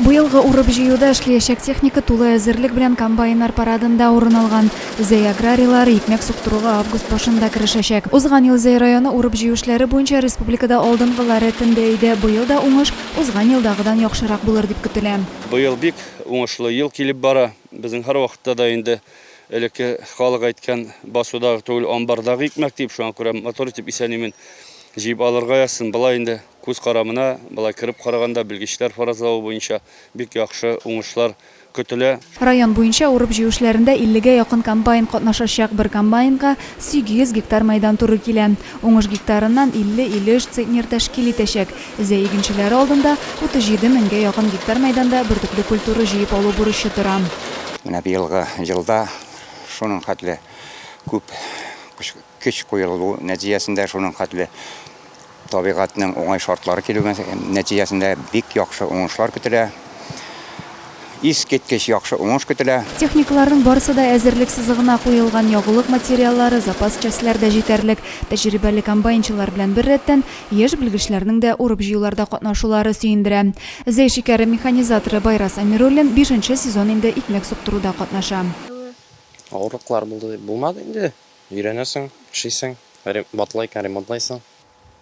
Быелгы урып-җыюда эшлиячәк техника тулы әзерлек белән комбайннар парадында урын алган. Зәй аграрийлары икмәк суктыруга август башында керешәчәк. Узган ел Зәй районы урып-җыю эшләре буенча республикада алдынгылар рәтендә иде. Быел да уңыш узган елдагыдан яхшырак булыр дип көтелә. Быел бик уңышлы ел килеп бара. Безнең һәрвакытта да инде элекке халык әйткән басудагы түгел, амбардагы икмәк дип, шуңа күрә мотор итеп исәнимен. Җыеп алырга язсын. Болай инде күз карамына, болай кереп караганда, белгечләр фаразлавы буенча, бик яхшы уңышлар көтелә. Район буенча урып-җыю эшләрендә 50 гә якын комбайн катнашачак. Бер комбайнга 800 гектар мәйдан туры килә. Уңыш гектарыннан 50-53 центнер тәшкил итәчәк. Зәй игенчеләре алдында 37 меңгә якын гектар мәйданда бөртекле культура җыеп алу бурычы тора. Менә быелгы елда шуның хәтле күп көч куелу нәтиҗәсендә, шуның хәтле табигатьнең уңай шартлары килү нәтиҗәсендә бик яхшы уңышлар көтелә. Искиткеч яхшы уңыш көтелә. Техникаларның барысы да әзерлек сызыгына куелган, ягулык материаллары, запас частьләр дә җитәрлек. Тәҗрибәле комбайнчылар белән беррәттән, яшь белгечләрнең дә урып-җыюларда катнашулары сөендерә. Зәй шикәре механизаторы Байрас Әмируллин бишенче сезон инде икмәк суктыруда катнаша. Авырлыклар булды дип булмады инде, өйрәнәсең, эшлисең, батлайкаң ремонтлайсың.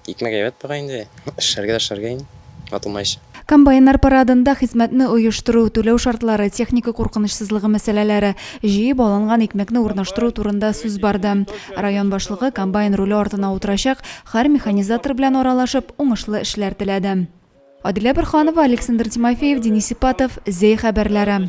Икмәк әйбәт бара инде, эшләргә дә эшләргә инде, ватылмаенча. Комбайннар парадында хезмәтне оештыру, түләү шартлары, техника куркынычсызлыгы мәсьәләләре, җыеп алынган икмәкне урнаштыру турында сүз барды. Район башлыгы комбайн руле артына утырачак хар механизатор белән аралашып, уңышлы эшләр теләде. Адилә Борһанова, Александр Тимофеев, Денис Ипатов, Зәй хәбәрләре.